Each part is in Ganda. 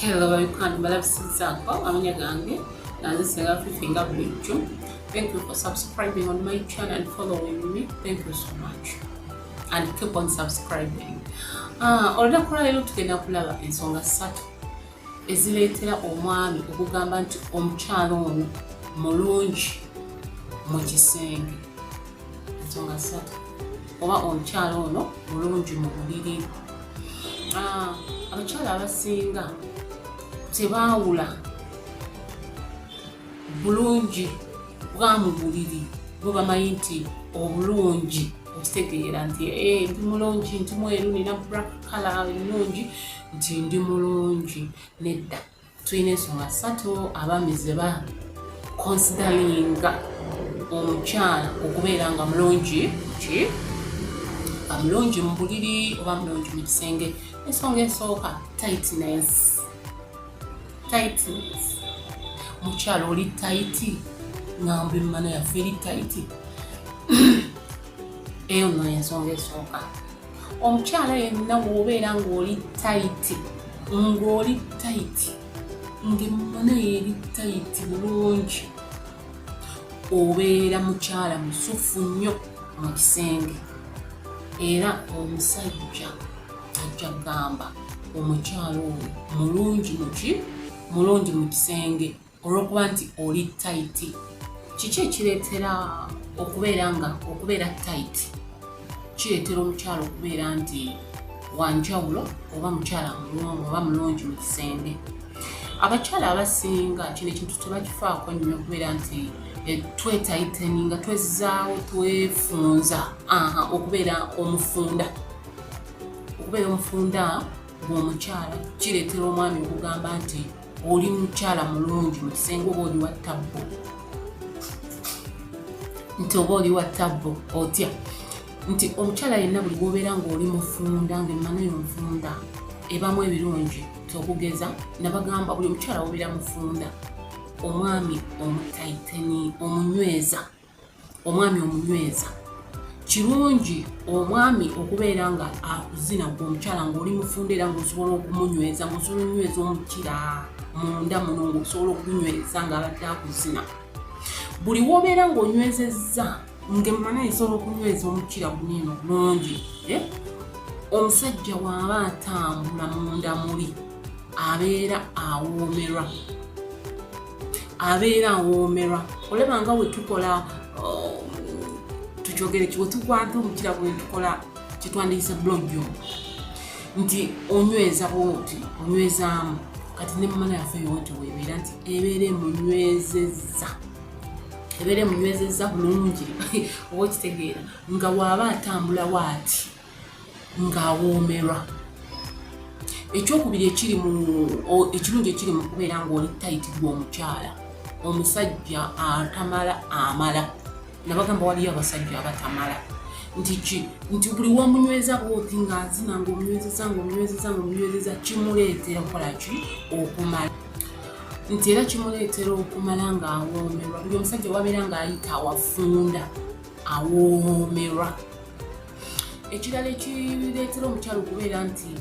Hello babikwano balabisizaako amanya gange nanze senga fifi nga bulijjo thank you for subscribing on my channel and following me thank you so much and keep on subscribing ah, olunaku lwaleero tugenda kulaba ensonga ssatu ezireetera omwami okugamba nti omukyalo ono mulungi mu kisenge ensonga ssatu oba omukyala ono mulungi mu buliri ah, abakyala abasinga tebaawula bulungi bwa mu buliri bo bamanyi nti obulungi okitegeera nti eh, ndi mulungi nti mweru nina brakala ennungi nti ndi mulungi nedda tulina ensonga ssatu abaami ze ba konsidalinga omukyala okubeera nga mulungi ki nga mulungi mu buliri oba mulungi mu kisenge ensonga esooka tightness tightness mukyala oli taiti nga mbimmana yaffe eri taiti eyo no ensonga esooka omukyala yenna wobeera ng'oli tayiti ng'oli tayiti ng'emmana yeeri tayiti bulungi obeera mukyala musufu nnyo mu kisenge era omusajja ajja kugamba omukyala oyo mulungi muki mulungi mu kisenge olw'okuba nti oli tayiti kiki ekireetera okubeera nga okubeera tayiti kireetera omukyala okubeera nti wanjawulo oba mukyala mulungi oba mulungi mu kisenge abakyala abasinga kino ekintu tebakifaako nnyo okubeera nti eh, twetayiteni nga twezaawo twefunza okubeera omufunda okubeera omufunda bw'omukyala kireetera omwami okugamba nti oli mukyala mulungi mu kisenge oba oli wa tabbo nti oba oli wa tabbo otya nti omukyala yenna buli bwobeera ngaoli mufunda ngaemmano yo nfunda ebamu ebirungi tokugeza nabagamba buli omukyala wobeera mufunda omwami omutaiteni omunyweza omwami omunyweza kirungi omwami okubeera nga akuzina gwe omukyala ngaoli mufunda era ngaosobola okumunyweza ngaosobola okunyweza omukira munda muno ngaosobola okunyweza ngaabadde akuzina buli wobeera ngaonywezezza ngemumana esobola okunyweza omukira gunino bulungi eh? omusajja waaba atambula munda muli abeera awoomerwa abeera awoomerwa olaba nga wetukola um, tukyogere ki wetukwata omukira bwetukola kyetwandiyise blogyo nti onyweza bwoti onywezaamu kati ne mumana yaffe yowoti webeera nti ebeera emunywezeza ebeera emunywezeza bulungi oba okitegeera nga waaba atambula waati ng'awoomerwa ekyokubiri ekiri mu ekirungi ekiri mu kubeera ng'oli tayiti gwe omukyala omusajja atamala amala nabagamba waliyo abasajja abatamala nti ki nti buli wamunyweza bwoti ng'azina ng'omunywezeza ng'omunywezeza ng'omunywezeza kimuleetera okukola ki okumala nti era kimuleetera okumala ng'awoomerwa buli omusajja wabeera ng'ayita awafunda awoomerwa ekirala ekireetera omukyalo okubeera nti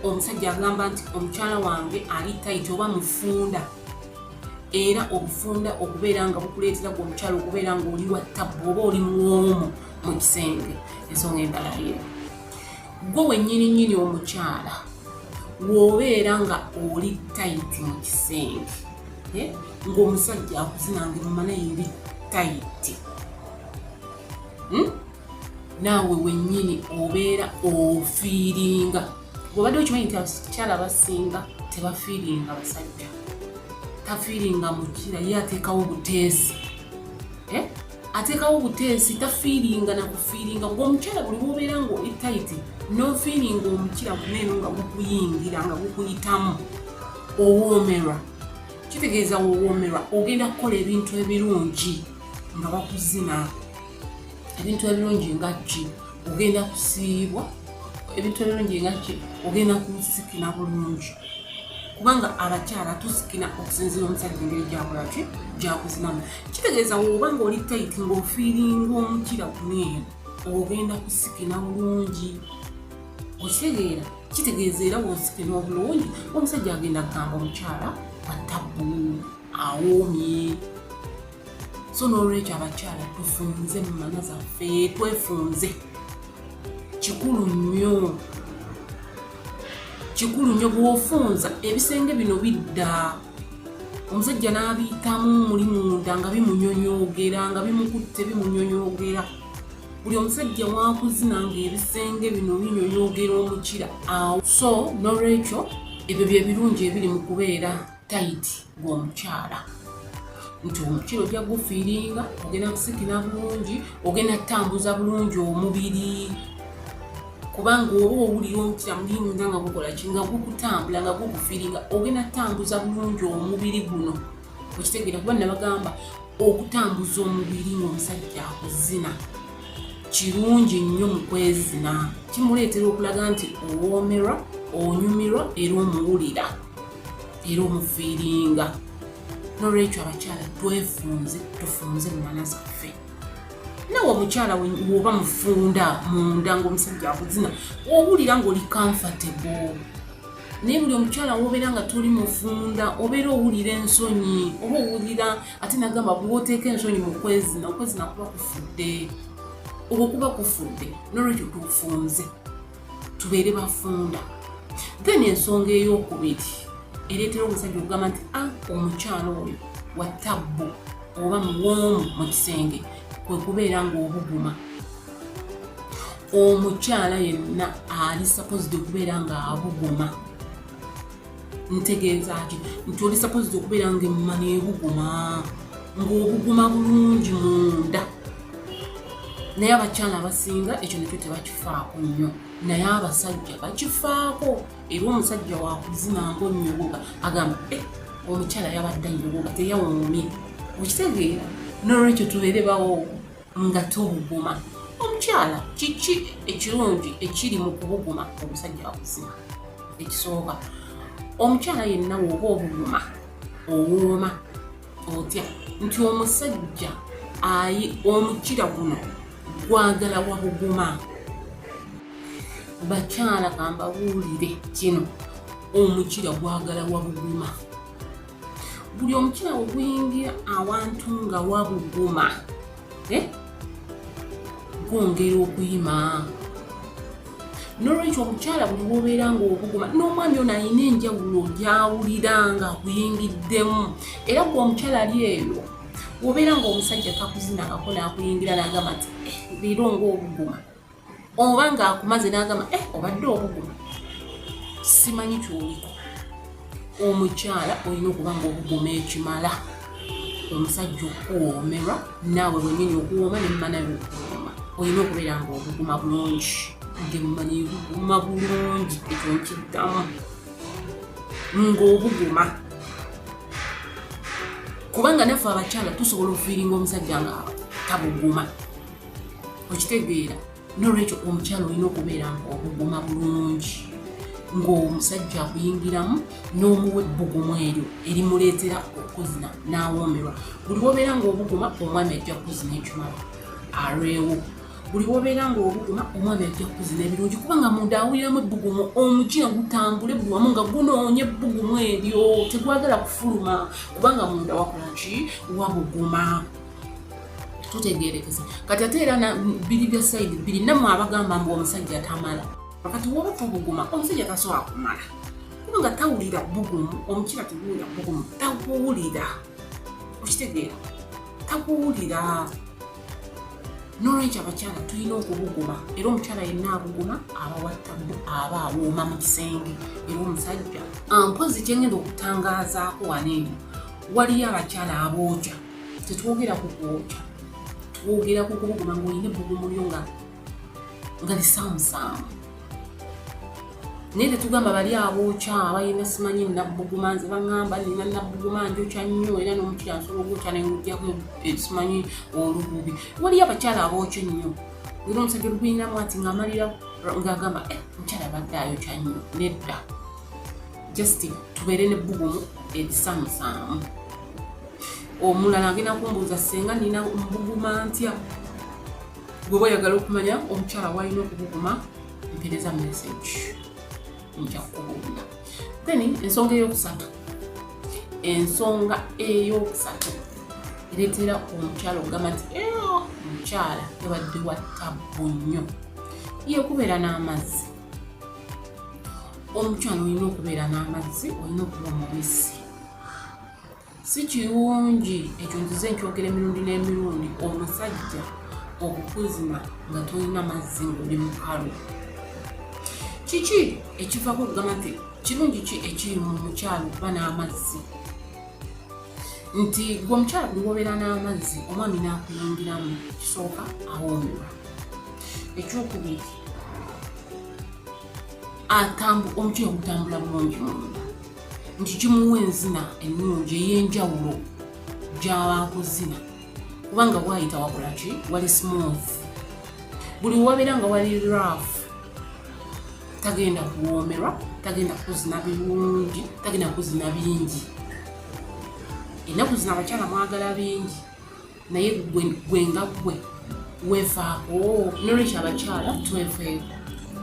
omusajja agamba nti omukyala wange ali tayiti oba mufunda era obufunda okubeera nga bukuleetera gwe omukyalo okubeera nga oli wa tabbu oba oli mwomu mu kisenge ensonga endala ye gwe wennyini nnyini omukyala wobeera nga oli tayiti mu kisenge eh, ng'omusajja akuzinange mumana eri tayiti hmm? naawe wennyini obeera ofiiringa obadde okimanyi nti abakyala abasinga tebafiiringa basajja tafiiringa mukira ye ateekawo obuteesi eh? ateekawo obuteesi tafiiringa nakufiiringa ngaomukyala buli wobeera nga etaiti nofiiringa omukira guneeno nga gukuyingira nga gukuyitamu owoomerwa kitegeeza wowoomerwa ogenda kukola ebintu ebirungi nga bakuzina ebintu ebirungi nga ki ogenda kusiibwa ebintu ebirungi nga ki ogenda kusikina bulungi kubanga abakyala tusikina okusinzira omusajja engeri gyakola ki gyakuzinamu kitegeeza woba nga oli tayiti ngaofiiringa omukira kuneeyo ogenda kusikina bulungi okitegeera kitegeeza era wosikina obulungi omusajja agenda kugamba omukyala atabuu awoomye so n'olwekyo abakyala tufunze mu mana zaffe twefunze kikulu nnyo kikulu nnyo bw'ofunza ebisenge bino bidda omusajja n'abiyitamu muli munda nga bimunyonyoogera nga bimukutte bimunyonyoogera buli omusajja wakuzina nga ebisenge bino binyonyoogera omukira awo so n'olwekyo ebyo bye birungi ebiri mu kubeera tayiti gw'omukyala nti omukira ojja gufiiringa ogenda kusikira bulungi ogenda kutambuza bulungi omubiri kubanga oba owulira omukira mulimunda nga gukola ki nga gukutambula nga gukufiiringa ogenda kutambuza bulungi omubiri guno okitegeera kuba nabagamba okutambuza omubiri ngaomusajja akuzina kirungi nnyo mu kwezina kimuleetera okulaga nti owoomerwa onyumirwa era omuwulira era omufiiringa nolwekyo abakyala twefunze tufunze mumana zaffe nawe omukyala woba mufunda munda ngaomusajja akuzina owulira ngaoli comfortable naye buli omukyala wobeera nga toli mufunda obeera owulira ensonyi oba owulira ate nagamba bwoteeka ensonyi mukwezina okwezina kuba kufudde okwo kuba kufudde nolwekyo tufunze tubeere bafunda then ensonga eyokubiri ereetera omusajja okugamba nti a ah, omukyalo oyo wa tabbu oba muwoomu mu kisenge kwe kubeera ng'obuguma omukyala yenna ali sapozidi okubeera ng'abuguma ntegeeza ki nti oli sapozi okubeera nga emmuma nebuguma ng'obuguma bulungi munda naye abakyala abasinga ekyo nakyo tebakifaako nnyo naye abasajja bakifaako era omusajja wakuzina ngaonyogoga agamba e omukyala yabadde nyogoga teyawuumye okitegeera nolwekyo tubeere bawo nga tobuguma omukyala kiki ekirungi ekiri mu kubuguma omusajja wakuzima ekisooka omukyala yenna woba obuguma owooma otya nti omusajja ayi omukira guno gwagala wabuguma bakyala kambabuulire kino omukira gwagala wabuguma buli omutima bwe guyingira awantu nga wabuguma eh? gwongera okuyima nolwekyo omukyala buli wobeera nga obuguma n'omwami ono alina enjawulo gyawulira nga buyingiddemu era gwe omukyala ali eyo wobeera nga omusajja takuzina ngako nakuyingira nagamba nti eh, leero ngaobuguma oba ng'akumaze n'agamba eh obadde obuguma simanyi kyoliko omukyala olina okuba ngaobuguma ekimala omusajja okuwoomerwa naawe wenyini okuwooma nemumana yokuwooma olina okubeera ngaobuguma bulungi ngemumana ebuguma bulungi ekyo nkiddamu ngaobuguma kubanga naffe abakyala tusobola okufiiringa omusajja nga tabuguma okitegeera nolwekyo omukyalo olina okubeera nga obuguma bulungi ng'omusajja akuyingiramu n'omuwa ebbugumu eryo erimuleetera okuzina n'awoomerwa buli wobeera ng'obuguma omwami ajja kuzina ekimala alwewo buli wobeera ng'obuguma omwami ajja kuzina ebirungi kubanga munda awuliramu ebbugumu omujina gutambule buli wamu nga gunoonya ebbugumu eryo tegwagala kufuluma kubanga munda wakola ki wabuguma tutegerekese kati ate era biri bya sayidi biri namwe abagamba mbu omusajja tamala kati woba tobuguma omusajja tasobola kumala kuba nga tawulira bugumu omukira teguwulira bugumu takuwulira okitegeera takuwulira nolwekyo abakyala tulina okubuguma era omukyala yenna abuguma abawattamu aba awooma mu kisenge era omusajja mpozi kyengenda okutangaazaako waneeno waliyo abakyala abooja tetwogera ku kwokya twogera ku kubuguma ngaolina ebbugumu lyo nga nga lisaamusaamu naye tetugamba bali abookya abalina simanyi nabbuguma nze baŋamba nina nabbuguma njokya nnyo era nomukyala nsobola ogwokya nengujaku esimanyi olububi waliyo abakyala abookya ennyo era omusajja oluguyinamu ati ngaamalira ngaagamba eh, omukyala abadde ayokya nnyo nedda just tubeere nebbugumu erisaamusaamu omulala agenda kumbuuza senga nina mbuguma ntya gweba oyagala okumanya omukyala walina okubuguma mpereza message nja kukubuulira then ensonga eyokusatu ensonga eyokusatu ereetera omukyala okugamba nti omukyala yabadde wa tabbu nnyo yekubeera n'amazzi omukyala olina okubeera n'amazzi olina okuba omubisi Si kirungi ekyo nzize nkyogera emirundi n'emirundi omusajja okukuzima nga tolina mazzi ngoli mukalu kiki ekivako okugamba nti kirungi ki ekiri mu mukyalo okuba n'amazzi nti gwe omukyalo gwe wobeera n'amazzi omwami n'akuyingiramu kisooka awoomerwa ekyokubiri omukyalo gutambula bulungi munda nti kimuwa enzina ennungi ey'enjawulo gy'abankuzina kubanga waayita wakola ki wali smooth buli wabeera nga wali rough tagenda kuwoomerwa tagenda kuzina birungi tagenda kuzina bingi ennaku zino abakyala mwagala bingi naye gwe nga gwe weefaako nolwekyo abakyala twefeeko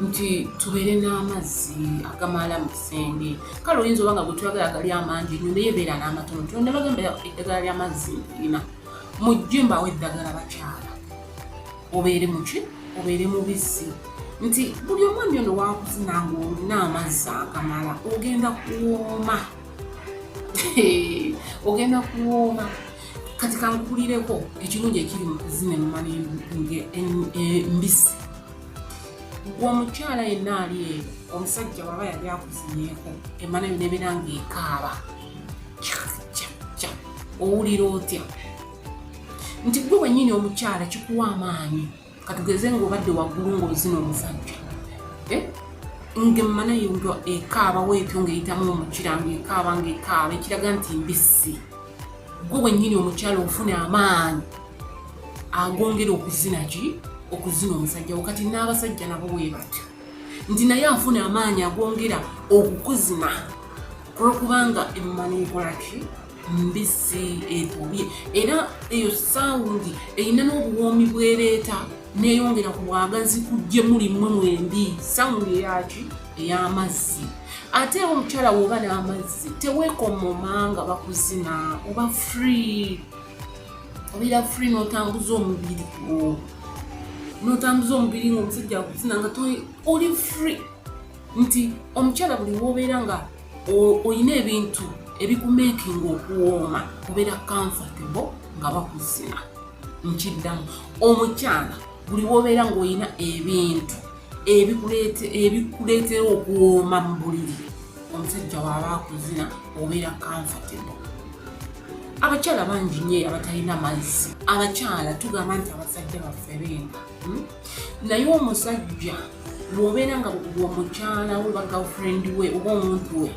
nti tubeere n'amazzi agamala mu kisenge kale oyinza oba nga gwetwagala gali amangi nyo naye beera n'amatono tonda bagamba eddagala ly'amazzi lina mujje mbawo eddagala bakyala obeere muki obeere mubisi nti buli omwami ono wakuzina nga olina amazzi agamala ogenda kuwooma ogenda kuwooma kati kankulireko ekirungi ekiri mu kuzina emmali embisi gwe omukyala yenna ali eyo omusajja waba yali akuzinyeeko emana yo nebeera nga ekaaba owulira otya nti gwe wenyini omukyala kikuwa amaanyi katugeze ngaobadde waggulu ngaozina omusajja eh? ngemmana yo nga ekaaba weetyo ngaeyitamu omukira ngaekaaba ngaekaaba ekiraga nti mbisi gwe wennyini omukyala ofuna amaanyi agongera okuzina ki okuzina omusajja wo kati n'abasajja nabo weebatyo nti naye afuna amaanyi agongera okukuzina olwokubanga emmana ekolaki mbisi etobye era eyo sawundi erina n'obuwoomi bwereeta neyongera ku bwagazi kujje muli mmwe mwembi sawundi eyaki ey'amazzi ate era omukyala woba n'amazzi teweekomoma nga bakuzina oba free obeera free n'otambuza omubiri gwo n'otambuza omubiri ng'omusajja akuzina nga oli free nti omukyala buli wobeera nga olina ebintu ebikumekinga okuwooma kubeera comfortable nga bakuzina nkiddamu omukyala buli wobeera ngaolina ebintu ebikuleetera okuwooma mu buliri omusajja waaba akuzina obeera comfortable abakyala bangi nyo abatalina mazzi abakyala tugamba nti abasajja baffe bemba hmm? naye omusajja bwobeera nga omukyala we bagirlfriend we oba omuntu we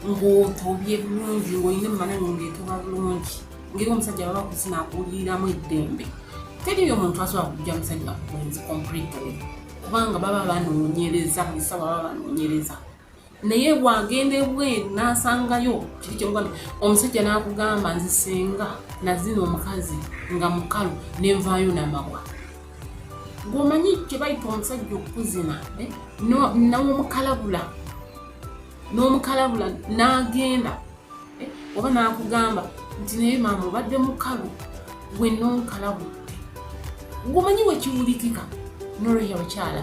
ng'otobye bulungi ng'olina emmananyo ng'etoba bulungi ngeri omusajja baba kuzina akuliiramu eddembe teriyo omuntu asobola kujja musajja kuwenzi completely kubanga baba banoonyereza musawa baba banoonyereza naye bwagenda ebweru nasangayo kiki kyogamba omusajja nakugamba nze senga nazina omukazi nga mukalu nenvaayo namagwa gwomanyi kyebayita omusajja okukuzina eh? nomukalabula nomukalabula nagenda eh? oba nakugamba nti naye maama obadde mukalu gwe nonkalabudde gwomanyi wekiwulikika noroya bakyala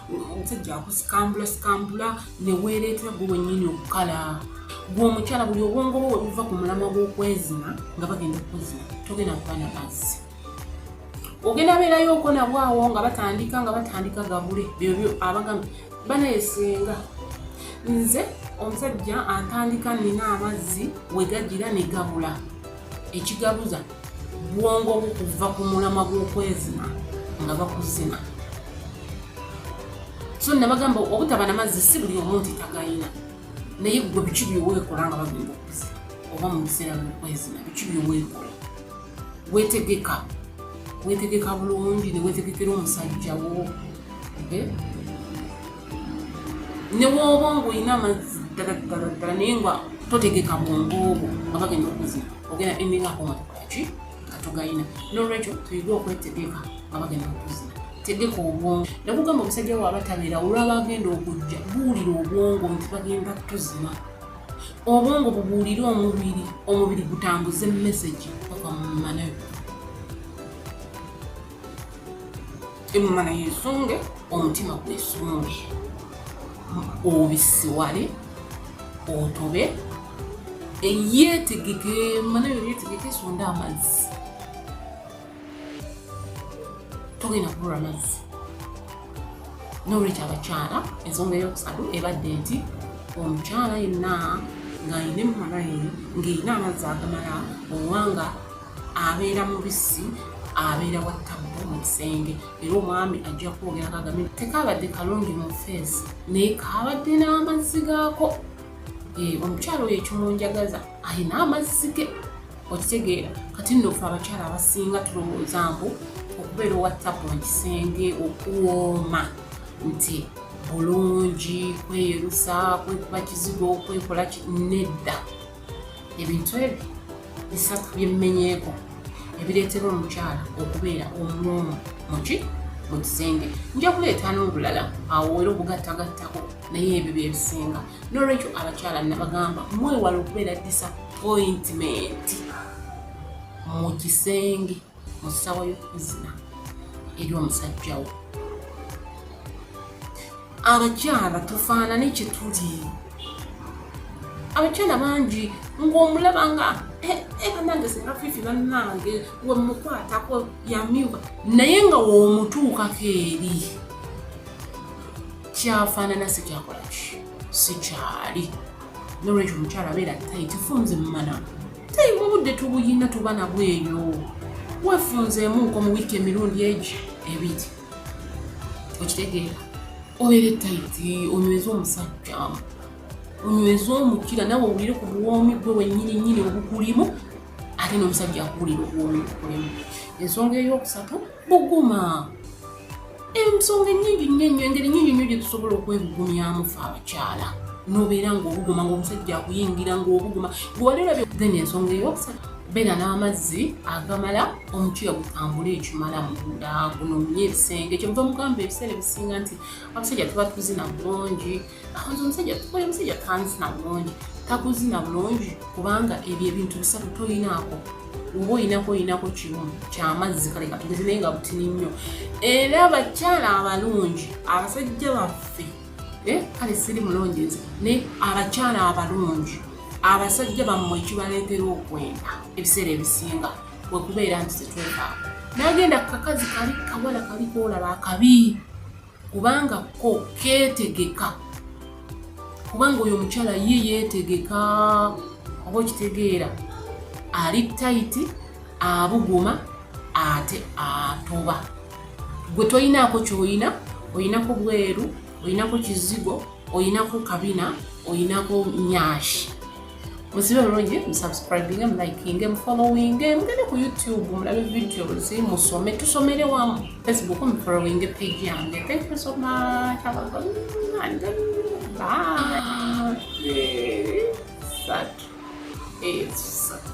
omusajja akusikambula sikambula neweereetwa gwe wennyini okukala gwe omukyala buli obwongo bwe webuva ku mulamwa gw'okwezima nga bagenda okuzima togenda kuba na mazzi ogenda beerayo oko nabw awo nga batandika nga batandika gabule byobyo abagamba banayesenga nze omusajja antandika nina amazzi wegajira negabula ekigabuza bwongo bwo kuva ku mulamwa gw'okwezina nga bakuzina so nabagamba obutaba namazzi si buli omu nti tagayina naye gwe biki byoweekola nga bagenda okuzi oba mu biseera byokwezina biki byoweekola wetegeka wetegeka bulungi newetegekera omusajjawo eh? ne bwoba ng'olina amazzi ddala ddala ddala naye nga totegeka bwongo obwo nga bagenda okuzina ogenda emingako nga tokolaki nga togalina nolwekyo tuyige okwetegeka nga bagenda okuzina tegeka obwongo nakugamba omusajja waaba tabeera olwaba agenda okujja buwulira obwongo nti bagenda tuzina obwongo bubuulire omubiri omubiri gutambuze message okamumanayo emumana yesunge omutima gwesunge obisiwale otobe eyetegeke emumana yo yetegeke esonde amazzi togenda kubula amazzi nolwekyo abakyala ensonga eyokusatu ebadde nti omukyala yenna ng'alina emmana ye ng'erina amazzi agamala owanga abeera mubisi abeera wattabbu mu kisenge era omwami ajja kwogera kagame tekaabadde kalungi mu feesi naye kaabadde n'amazzi gaako eh, omukyalo oyo ekimunjagaza alina amazzi ge okitegeera kati nno fe abakyala abasinga tulowooza mbu okubeera owattabbu mu kisenge okuwooma nti bulungi kweyerusa kwekuba kizigo kwekola nedda ebintu ebyo bisatu byemmenyeeko ebireetera omukyala okubeera omuloomu muki mu kisenge nja kuleeta n'obulala awo era obugattagattako naye ebyo byebisinga n'olwekyo abakyala nabagamba mwewala okubeera disappointment mu kisenge mu ssawa y'okuzina eri omusajjawo abakyala tufaanane kye tuli abakyala bangi ng'omulaba nga eh, eh, banange singa fifi bannange wemukwatako yamyuka naye nga womutuukako eri kyafaanana sikyakolaki sikyali nolwekyo omukyala beera tayitifunze mumanamu naye obudde tubuyina tuba nabwo eyo wefunzeemu nko mu wiiki emirundi egyo ebiri okitegeera obeera etayiti onyweza omusajja onyweza omukira nawe owulire ku buwoomi gwe wenyini nyini obukulimu ate n'omusajja akuwulira obuwoomi bukulimu ensonga ey'okusatu buguma ensonga enyingi nnyo ennyo engeri nyingi nnyo gyetusobola okwebugumyamu fe abakyala nobeera ngaobuguma ngaomusajja akuyingira ngaobuguma gwewalirabye then ensonga eyokusatu beera n'amazzi agamala omukiya gutambule ekimala munda gunomye ebisenge kyemuva mugamba ebiseera ebisinga nti abasajja tuba tuzina bulungi Akoze omusajja tukoye omusajja tanzina bulungi takuzina bulungi kubanga ebyo ebintu bisatu toyinaako oba oyinako oyinako kimu kyamazzi kale katugeze naye nga butini nnyo era abakyala abalungi abasajja baffe eh, kale siri mulungi nze naye abakyala abalungi abasajja bammwe ekibaleetera okwenda ebiseera ebisinga wekubeera nti tetwetaako nagenda kakazi kali kawala kali kolaba akabi kubanga ko ketegeka kubanga oyo omukyala ye yetegeka oba okitegeera ali tayiti abuguma ate atoba gwe toyinaako kyoyina oyinako bweru oyinako kizigo oyinako kabina oyinako nyashi musibe bulungi musubscribinge mulikinge mufollowinge mugende ku youtube mulabe videos musome tusomere wamu facebook mufollowinge page yange thank you so much have a good night bye Satu. Eh, satu.